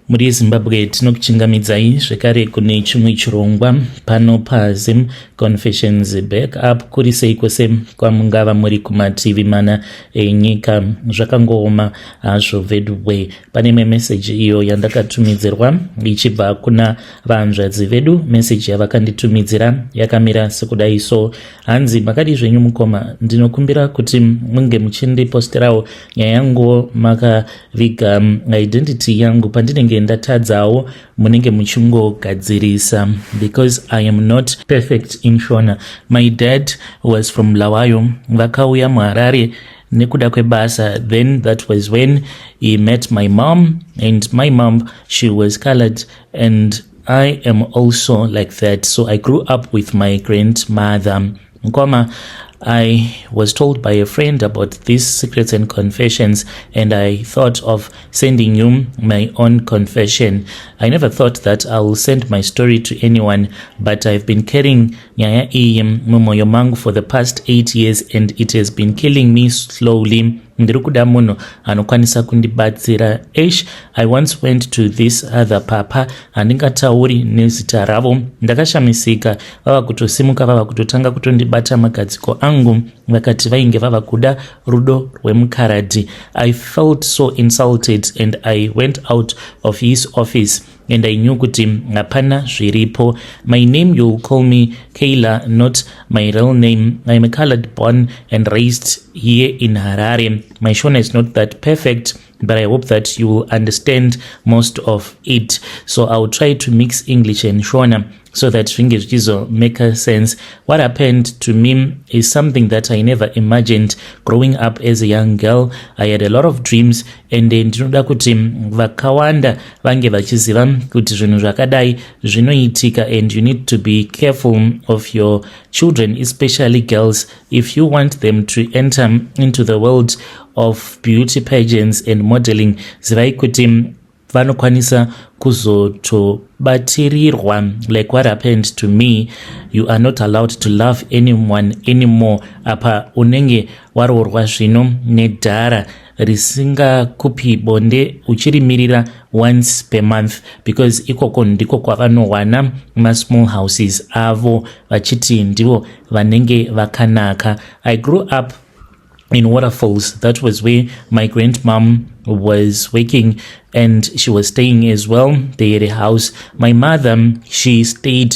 muri zimbabwe tinokuchingamidzai zvekare kune chimwe chirongwa pano pazim confessions back up kuri sei kwese kwamungava muri kumativi mana enyika zvakangooma hazvo veduwe pane imwe meseji iyo yandakatumidzirwa ichibva kuna vahanzvadzi vedu meseji yavakanditumidzira yakamira sekudai so hanzi makadii zvenyu mukoma ndinokumbira kuti munge muchindiposterawo nyaya yanguwo maka viga um, identity yangu pandinenge ndatadzawo munenge muchingogadzirisa because i am not perfect in shona my dad was from lawayo vakauya muharare nekuda kwebasa then that was when he met my mom and my mom she was colored and i am also like that so i grew up with my grandmother Mkwama, I was told by a friend about these secrets and confessions, and I thought of sending you my own confession. I never thought that I will send my story to anyone, but I've been carrying nyaya iyi mumoyo mangu for the past eight years, and it has been killing me slowly. ndiri kuda munhu anokwanisa kundibatsira ash i once went to this other papa handingatauri nezita ravo ndakashamisika vava kutosimuka vava kutotanga kutondibata magadziko angu vakati vainge vava kuda rudo rwemukaradhi i felt so insulted and i went out of his office and i knew kuti hapana zviripo my name youll call me kayla not my real name iam a colored born and raised here in harare my shona is not that perfect but I hope that you will understand most of it. So I'll try to mix English and Shona so that zvinge zvichizo make sense. What happened to me is something that I never imagined growing up as a young girl. I had a lot of dreams and eh, ndinoda kuti vakawanda vange vachiziva kuti zvinhu zvakadai zvinoitika and you need to be careful of your children especially girls If you want them to enter into the world of beauty pageants and modeling, zivai kuti vanokwanisa kuzotobatsirirwa like what happened to me you are not allowed to love anyone anymore apa unenge waroorwa zvino nedhara risingakupi bonde uchirimirira once per month because ikoko ndiko kwavanowana masmall houses avo vachiti ndivo vanenge vakanaka i grew up in waterfalls that was where my grandmom was working and she was staying as well they had a house my mother she stayed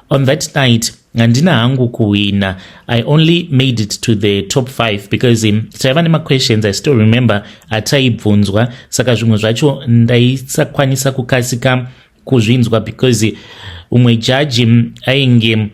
On that night handina hangu kuhwina i only made it to the top 5 because um, taiva nemaquestions i still remember ataibvunzwa saka zvimwe zvacho ndaisakwanisa kukasika kuzvinzwa because umwe jaji um, ainge um,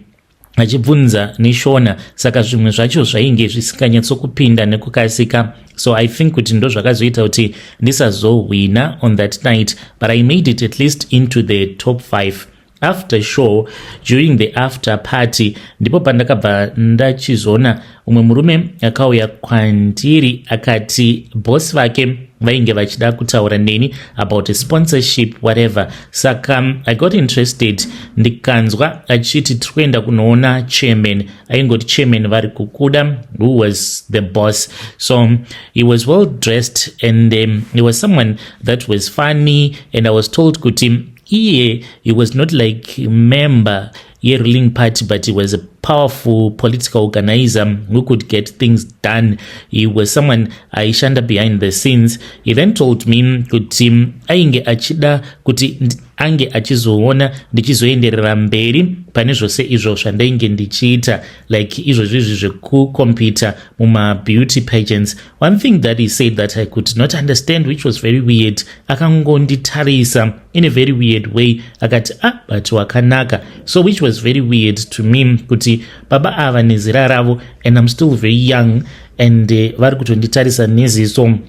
achibvunza neshona saka zvimwe zvacho zvainge zvisinganyatsokupinda nekukasika so i think kuti ndo zvakazoita kuti ndisazohwina on that night but i made it at least into the top 5 after show during the after party ndipo pandakabva ndachizoona umwe murume akauya kwandiri akati boss vake vainge vachida kutaura neni about a sponsorship whatever saka um, i got interested ndikanzwa achiti tiri kuenda kunoona chairman aingoti chairman vari kukuda who was the boss so um, he was well dressed and um, he was someone that was funny and i was told kuti iye he was not like member yeruling party but he was a powerful political organizer who could get things done he was someone aishanda behind the scenes he then told me kuti ainge achida kuti ange achizoona ndichizoenderera mberi pane zvose izvo zvandainge ndichiita like izvozvi izvi zvekucompita mumabeauty pagents one thing that he said that i could not understand which was very weird akangonditarisa in a very weird way akati ah but wakanaka so which was very weird to me kuti baba ava nezera ravo and im still very young and uh, vari kutonditarisa neziso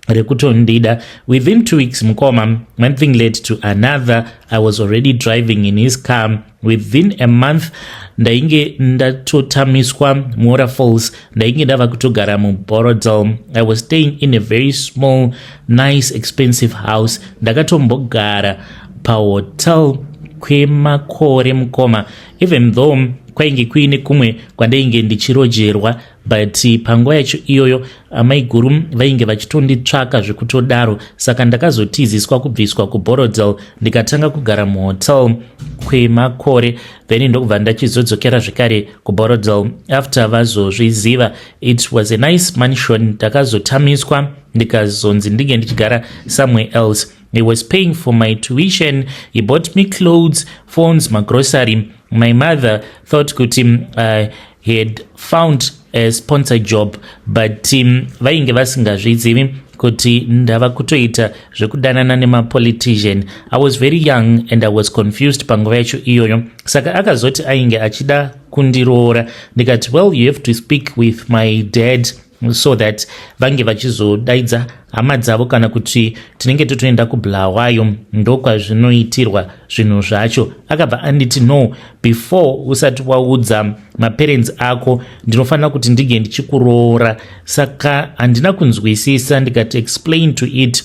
rekutondida within two weeks mukoma one thing led to another i was already driving in his car within a month ndainge ndatotamiswa muora falls ndainge ndava kutogara muborodel i was staying in a very small nice expensive house ndakatombogara pahotel kwemakore mukoma even though kwainge kuine kumwe kwandainge ndichirojerwa but panguva yacho iyoyo amaiguru vainge vachitonditsvaka zvekutodaro saka ndakazotiziswa kubviswa kuborodel ndikatanga kugara muhotel kwemakore then ndokubva ndachizodzokera zvekare kuborodel after vazozviziva it was a nice mansion ndakazotamiswa ndikazonzi ndinge ndichigara somewhere else he was paying for my tuition he bought me clothes phones magrocery my mother thought kuti uh, he had found a sponsor job but um, vainge vasingazvizivi kuti ndava kutoita zvekudanana nemapolitician i was very young and i was confused panguva yacho iyoyo saka akazoti ainge achida kundiroora ndikati well you have to speak with my dad so that vange vachizodaidza hama dzavo kana kuti tinenge totoenda kubulawayo ndokwazvinoitirwa zvinhu zvacho akabva anditi no before usati waudza maparents ako ndinofanira kuti ndinge ndichikuroora saka handina kunzwisisa ndikati explain to it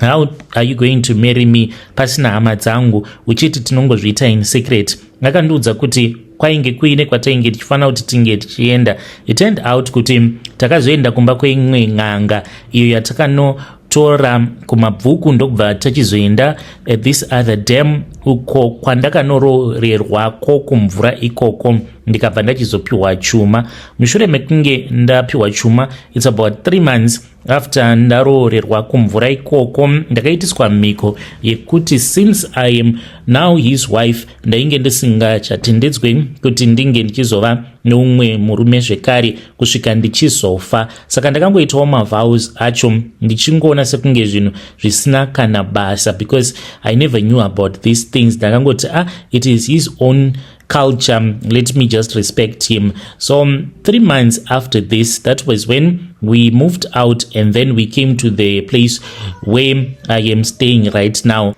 how are you going to marry me pasina hama dzangu uchiti tinongozviita in secret akandiudza kuti kwainge kuine kwatainge tichifanira kuti tinge tichienda it turned out kuti takazoenda kumba kweimwe n'anga iyo yatakano tora kumabvuku ndokubva tachizoenda eh, this other dam uko kwandakanoroorerwa ko kumvura ikoko ndikabva ndachizopiwa chuma mushure mekunge ndapiwa chuma its about three months after ndaroorerwa kumvura ikoko ndakaitiswa mhiko yekuti since i am now his wife ndainge ndisingachatendedzwe kuti ndinge ndichizova neumwe murume zvekare kusvika ndichizofa saka ndakangoitawo mavows acho ndichingoona sekunge zvinhu zvisina kana basa because i never knew about these things ndakangoti ah it is his own culture let me just respect him so um, three months after this that was when we moved out and then we came to the place where i am staying right now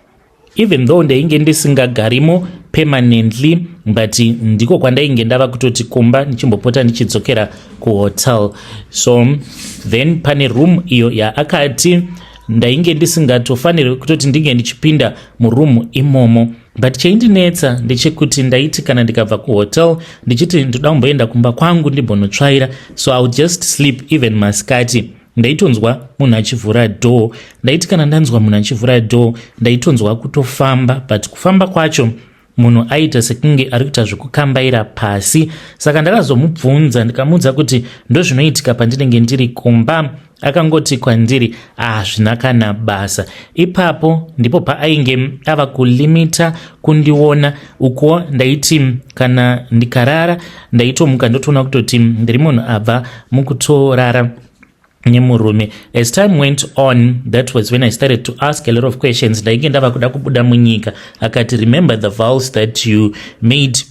even though ndainge ndisingagarimo permanently but ndiko kwandainge ndava kutoti kumba ndichimbopota ndichidzokera kuhotel so um, then pane room iyo yaakati ndainge ndisingatofanirwe kutoti ndinge ndichipinda muroom imomo but chaindinetsa ndechekuti ndaiti kana ndikabva kuhotel ndichiti ndoda kumboenda kumba kwangu ndimbonotsvaira so iwill just sleep even masikati ndaitonzwa munhu achivhura door ndaiti kana ndanzwa munhu achivhura door ndaitonzwa kutofamba but kufamba kwacho munhu aita sekunge ari kuita zvekukambaira pasi saka ndakazomubvunza ndikamuudza kuti ndozvinoitika pandinenge ndiri kumba akangoti kwandiri hazvina ah, kana basa ipapo ndipo paainge ava kulimita kundiona uko ndaiti kana ndikarara ndaitomuka ndotoona kutoti ndiri munhu abva mukutorara nemurume as time went on that was when i started to ask a lot of questions ndainge ndava kuda kubuda munyika akati remember the vows that you made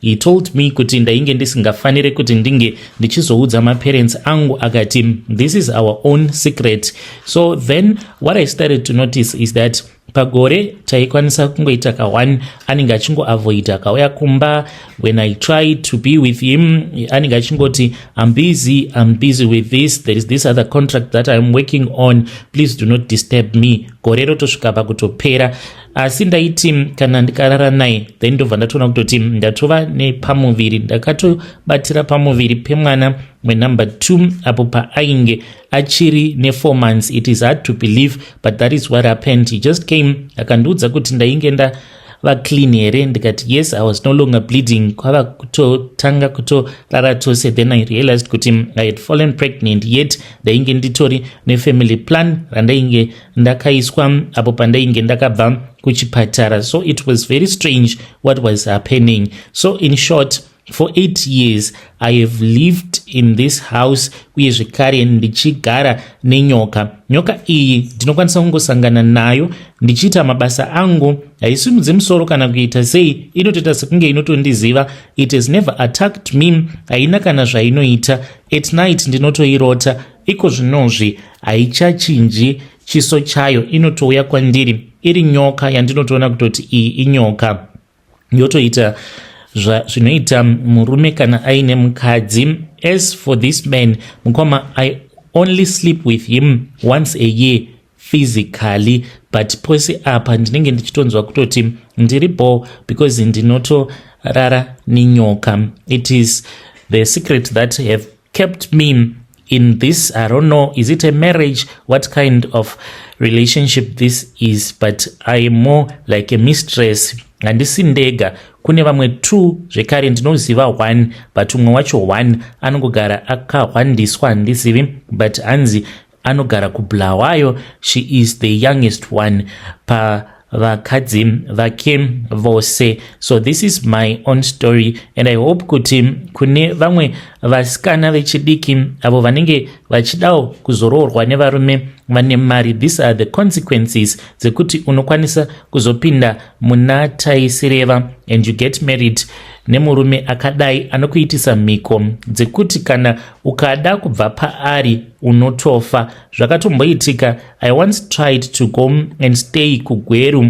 He told me kuti ndainge ndisingafanire kuti ndinge ndichizoudza maparents angu akati this is our own secret so then what i started to notice is that pagore taikwanisa kungoita ka1 anenge achingoavoida akauya kumba when i try to be with him anenge achingoti im busy im busy with this there is this other contract that iam working on please do not disturb me gore rotosvika pakutopera asi ndaiti kana ndikarara naye then ndobva ndatoona kutoti ndatova nepamuviri ndakatobatira pamuviri pemwana wenumber two apo paainge achiri nefour months it is hard to believe but that is what happened he just came akandiudza kuti ndainge nda vaclean here ndikati yes i was no longer bleeding kwava kutotanga kutorara tose then i realized kuti i had fallen pregnant yet ndainge nditori nefamily plan randainge ndakaiswa apo pandainge ndakabva kuchipatara so it was very strange what was happening so in short for eight years i have lived in this house uye zvekare ndichigara nenyoka nyoka iyi ndinokwanisa kungosangana nayo ndichiita mabasa angu haisimudze musoro kana kuita sei inotoita sekunge inotondiziva it has never attacked me haina kana zvainoita at night ndinotoirota Iko zvinozvi haichachinji chiso chayo, inotouya kwandiri iri nyoka yandinotoona kutoti iyi inyoka, yotoita zvinoita murume kana aine mukadzi. As for this man, mukoma, I only sleep with him once a year physically but pose apa ndinenge ndichitonzwa kutoti ndiri bho because ndinotorara nenyoka it is the secret that have kept me in this i don't know is it a marriage what kind of relationship this is but i am more like a mistress handisi ndega kune vamwe two zvekare ndinoziva one but umwe wacho one anongogara akahwandiswa handizivi but hanzi anogara kubulawayo she is the youngest one pa vakadzi vake vose so this is my own story and i hope kuti kune vamwe vasikana vechidiki avo vanenge vachidawo kuzoroorwa nevarume vane mari these are the consequences dzekuti unokwanisa kuzopinda muna taisireva and you get married nemurume akadai anokuitisa mhiko dzekuti kana ukada kubva paari unotofa zvakatomboitika i once tried to go and stay kugweru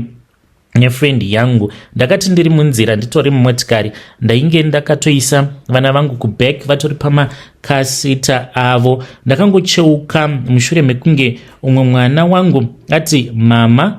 nefriend yangu ndakati ndiri munzira nditori mumotikari ndainge ndakatoisa vana vangu kuback vatori pamakasita avo ndakangocheuka mushure mekunge umwe mwana wangu ati mama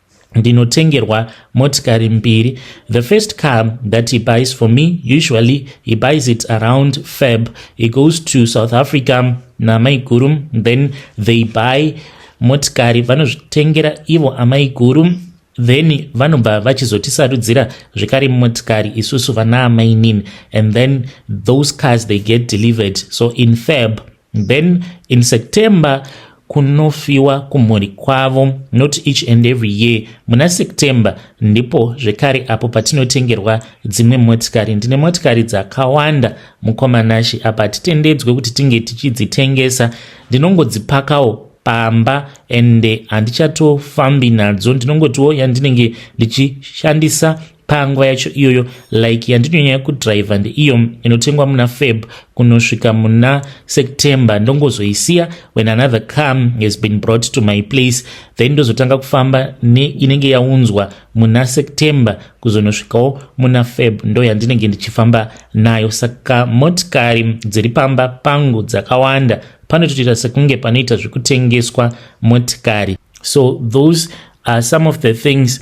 ndinotengerwa motikari mbiri the first car that he buys for me usually he buys it around fab he goes to south africa namaiguru then they buy motikari vanozvitengera ivo amaiguru then vanobva vachizotisarudzira zvekare motikari isusu vana amainini and then those cars they get delivered so in fab then in september kunofiwa kumhuri kwavo not each and every year muna september ndipo zvekare apo patinotengerwa dzimwe motikari ndine motikari dzakawanda mukomanashe apa hatitendedzwe kuti tinge tichidzitengesa ndinongodzipakawo pamba and handichatofambi nadzo ndinongotiwo yandinenge ndichishandisa panguva yacho iyoyo like yandinonyanya kudrive ndeiyo inotengwa muna feb kunosvika muna september ndongozoisiya when another come has been brought to my place then ndozotanga kufamba neinenge yaunzwa muna september kuzonosvikawo muna feb ndo yandinenge ndichifamba nayo saka motikari dziri pamba pangu dzakawanda panotoita sekunge panoita zvekutengeswa motikari so those are some of the things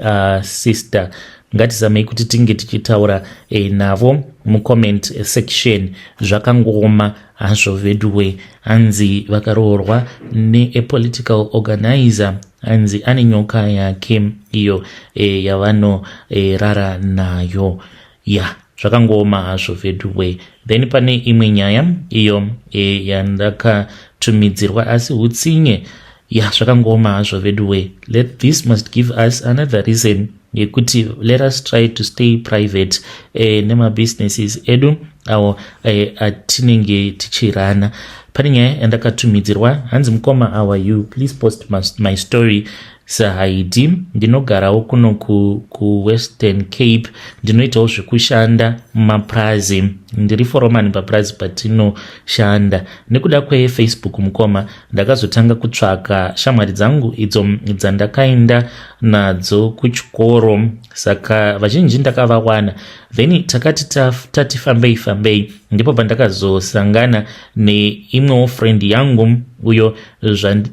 uh, sister ngatizamei kuti tinge tichitaura eh, navo mucomment section zvakangooma hazvo veduwe hanzi vakaroorwa neapolitical organizer hanzi ane nyoka yake iyo eh, yavanorara eh, nayo ya zvakangooma hazvo veduway then pane imwe nyaya iyo e, yandakatumidzirwa asi utsinye ya zvakangoma hazvo veduway let this must give us another reason yekuti let us try to stay private eh, nemabusinesses edu awo eh, atinenge tichirana pane nyaya yandakatumidzirwa hanzi mukoma our you please post my story Sir Haidi, ndinogarawo kuno ku, ku Western Cape, ndinoitawo zvekushanda mumapurazi. Ndiri foromani papurazi patinoshanda. Nekuda kweFacebook mukoma, ndakazotanga kutsvaka shamwari dzangu idzo dzandakaenda nadzo kuchikoro, saka vazhinji ndakavawana. Then takati tati fambei fambei, ndipo pandakazosangana neimwewo friend yangu uyo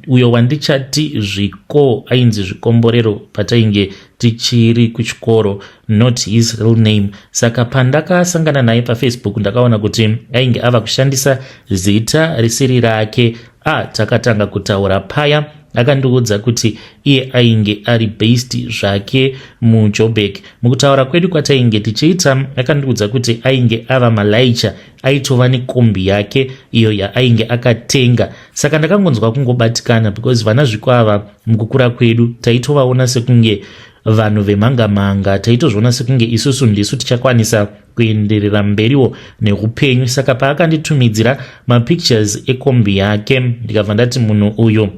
uyo wandichati zviko ainzi zvikomborero patainge tichiri kuchikoro not his real name saka pandakasangana naye pafacebook ndakaona kuti ainge ava kushandisa zita risiri rake a ah, takatanga kutaura paya akandiudza kuti iye ainge ari based zvake mujobek mukutaura kwedu kwatainge tichiita akandiudza kuti ainge ava malaicha aitova nekombi yake iyo yaainge akatenga saka ndakangonzwa kungobatikana because vana zviko ava mukukura kwedu taitovaona sekunge vanhu vemhangamhanga taitozviona sekunge isusu ndisu tichakwanisa kuenderera mberiwo neupenyu saka paakanditumidzira mapictures ekombi yake ndikabva ndati munhu uyo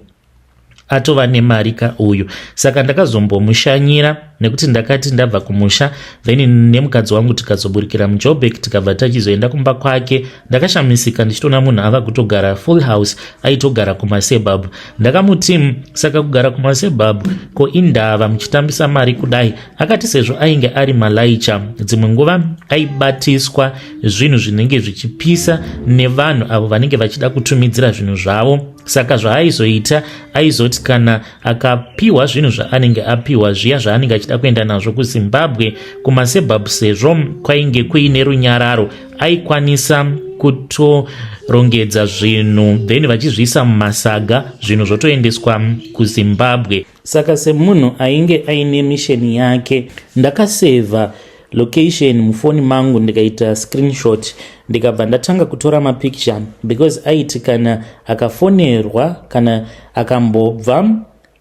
atova nemari ka uyu saka ndakazombomushanyira nekuti ndakati ndabva kumusha then nemukadzi wangu tikazoburikira mujobek tikabva tachizoenda kumba kwake ndakashamisika ndichitoona munhu ava kutogara full house aitogara kumasebab ndakamuti saka kugara kumasebab ko indava muchitambisa mari kudai akati sezvo ainge ari malaicha dzimwe nguva aibatiswa zvinhu zvinenge zvichipisa nevanhu avo vanenge vachida kutumidzira zvinhu zvavo saka zvaaizoita aizoti kana akapiwa zvinhu zvaanenge apiwa zviya zvaanenge achida kuenda nazvo kuzimbabwe kumasebab sezvo kwainge kuine runyararo aikwanisa kutorongedza zvinhu then vachizviisa mumasaga zvinhu zvotoendeswa kuzimbabwe saka semunhu ainge aine misheni yake ndakasevha location mufoni mangu ndikaita screenshot ndikabva ndatanga kutora mapicture because aiti kana akafonerwa kana akambobva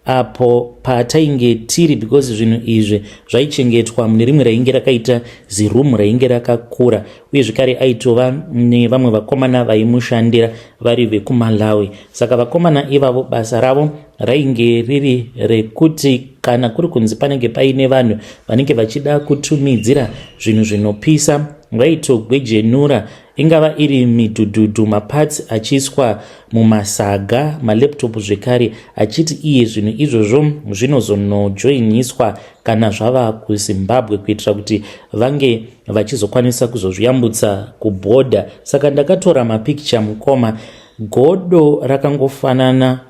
apo patainge tiri because zvinhu izvi zvaichengetwa mune rimwe rainge rakaita zirumu rainge rakakura uye zvekare aitova nevamwe vakomana vaimushandira vari vekumalawi saka vakomana ivavo basa ravo rainge riri rekuti kana kuri kunzi panenge paine vanhu vanenge vachida kutumidzira zvinhu zvinopisa vaitogwejenura ingava iri midhudhudhu mapatsi achiiswa mumasaga malaptop zvekare achiti iye zvinhu izvozvo zvinozonojoiniswa kana zvava kuzimbabwe kuitira kuti vange vachizokwanisa kuzozviyambutsa kubhodha saka ndakatora mapikicha mukoma godo rakangofanana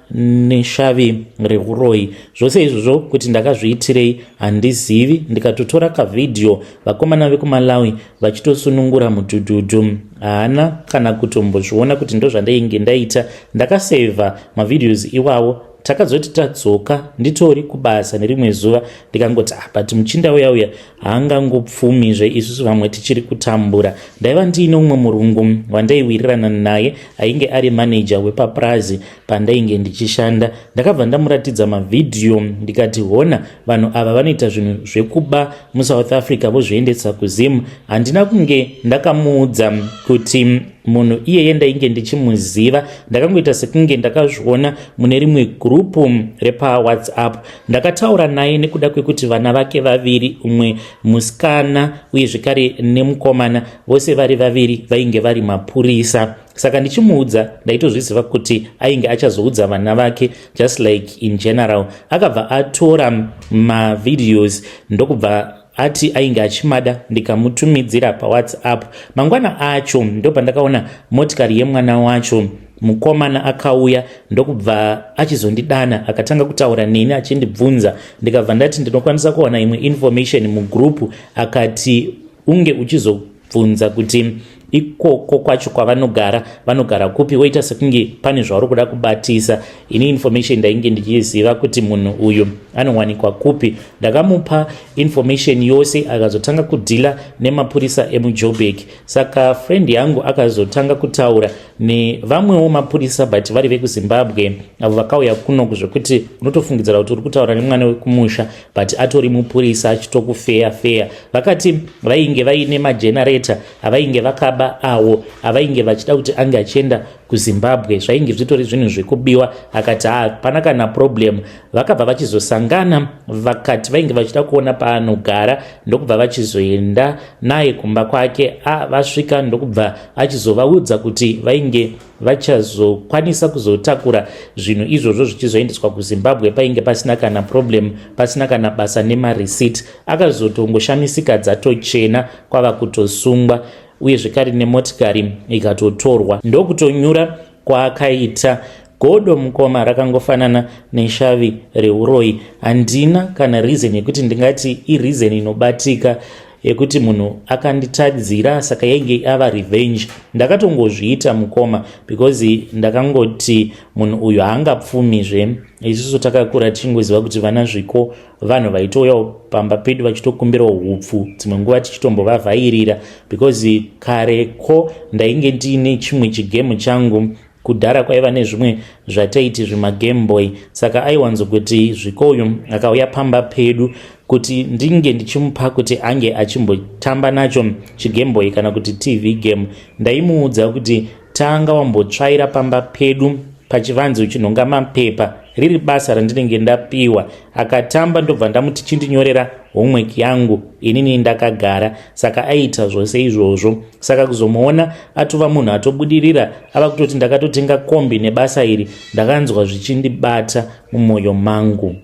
neshavi reuroyi zvose izvozvo kuti ndakazviitirei handizivi ndikatotora kavhidhiyo vakomana vekumalawi vachitosunungura mudhudhudhu haana kana kutombozviona kuti ndozvandainge ndaita ndakasevha mavhidhios iwawo takazoti tadzoka nditori kubasa nerimwe zuva ndikangoti ah, but muchinda uya uya haangangopfumizve isusu vamwe tichiri kutambura ndaiva ndiine umwe murungu wandaiwirirana naye ainge ari maneja wepapurazi pandainge ndichishanda ndakabva ndamuratidza mavhidhiyo ndikati hona vanhu ava vanoita zvinhu zvekuba musouth africa vozviendesa kuzim handina kunge ndakamuudza kuti munhu iyeye ndainge ndichimuziva ndakangoita sekunge ndakazviona mune rimwe gurupu repawhatsapp ndakataura naye nekuda kwekuti vana vake vaviri umwe musikana uye zvekare nemukomana vose vari vaviri vainge vari mapurisa saka ndichimuudza ndaitozviziva kuti ainge achazoudza vana vake just like in general akabva atora mavideos ndokubva ati ainge achimada ndikamutumidzira pawhatsapp mangwana acho ndopandakaona motikari yemwana wacho mukomana akauya ndokubva achizondidana akatanga kutaura neni achindibvunza ndikabva ndati ndinokwanisa kuwana imwe information mugroup akati unge uchizo bvunza kuti ikoko kwacho kwavanogara vanogara kupi woita sekunge pane zvauri kuda kubatisa ini information ndainge ndichiziva kuti munhu uyu anowanikwa kupi ndakamupa information yose akazotanga kudhila nemapurisa emujobek saka friend yangu akazotanga kutaura nevamwewo mapurisa but vari vekuzimbabwe avo vakauya kuno zvekuti unotofungidzira kuti uri kutaura nemwana wekumusha but atori mupurisa achitokufeya feya vakati vainge vaine magenerator avainge vakaba awo avainge vachida kuti ange achienda kuzimbabwe zvainge zvitori zvinhu zvekubiwa akati hapana kana problem vakabva vachizosangana vakati vainge vachida kuona paanogara ndokubva vachizoenda naye kumba kwake a vasvika ndokubva achizovaudza kuti vainge vachazokwanisa kuzotakura zvinhu izvozvo zvichizoendeswa kuzimbabwe painge pasina kana problem pasina kana basa nemareceipt akazotongoshamisika dzatochena kwava kutosungwa uye zvekare nemotikari ikatotorwa ndokutonyura kwaakaita godo mukoma rakangofanana neshavi reuroyi handina kana reason yekuti ndingati ireason inobatika yekuti munhu akanditadzira saka yainge ava revenge ndakatongozviita mukoma because ndakangoti munhu uyu haangapfumizve isusu takakura tichingoziva kuti vana zviko vanhu vaitouyawo pamba pedu vachitokumbirawo hupfu dzimwe nguva tichitombovavhairira because kare ko ndainge ndiine chimwe chigemu changu Kudhara kwaiva nezvimwe zvataiti zvimagame boy saka aiwanzo kuti zviko uyu akauya pamba pedu kuti ndinge ndichimupa kuti ange achimbotamba nacho chigame boy kana kuti tv game ndaimuudza kuti tanga wambotsvaira pamba pedu pachivanzi uchinhonga mapepa riri basa randinenge ndapiwa akatamba ndobva ndamuti chindinyorera homework yangu inini ndakagara saka aiita zvose izvozvo saka kuzomuona atova munhu atobudirira ava kutoti ndakatotenga kombi nebasa iri ndakanzwa zvichindibata mumwoyo mangu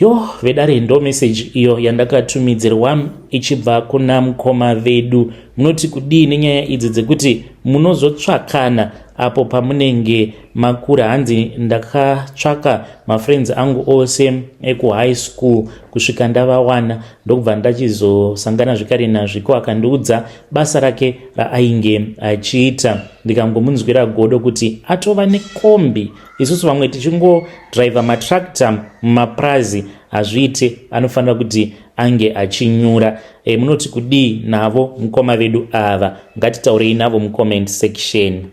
Yo vedare ndo message iyo yandakatumidzirwa ichibva kuna mukoma vedu. Munoti kudii nenyaya idzi dzekuti munozotsvakana apo pamunenge makura hanzi ndakatsvaka mafriends angu ose ekuhigh school kusvika ndavawana ndokubva ndachizosangana zvekare nazviko akandiudza basa rake raainge achiita ndikangomunzwira godo kuti atova nekombi isusu vamwe tichingodriver matractor mumapurazi hazviite anofanira kuti ange achinyura e, munoti kudii navo mukoma vedu ava ngatitaurei navo mucomment section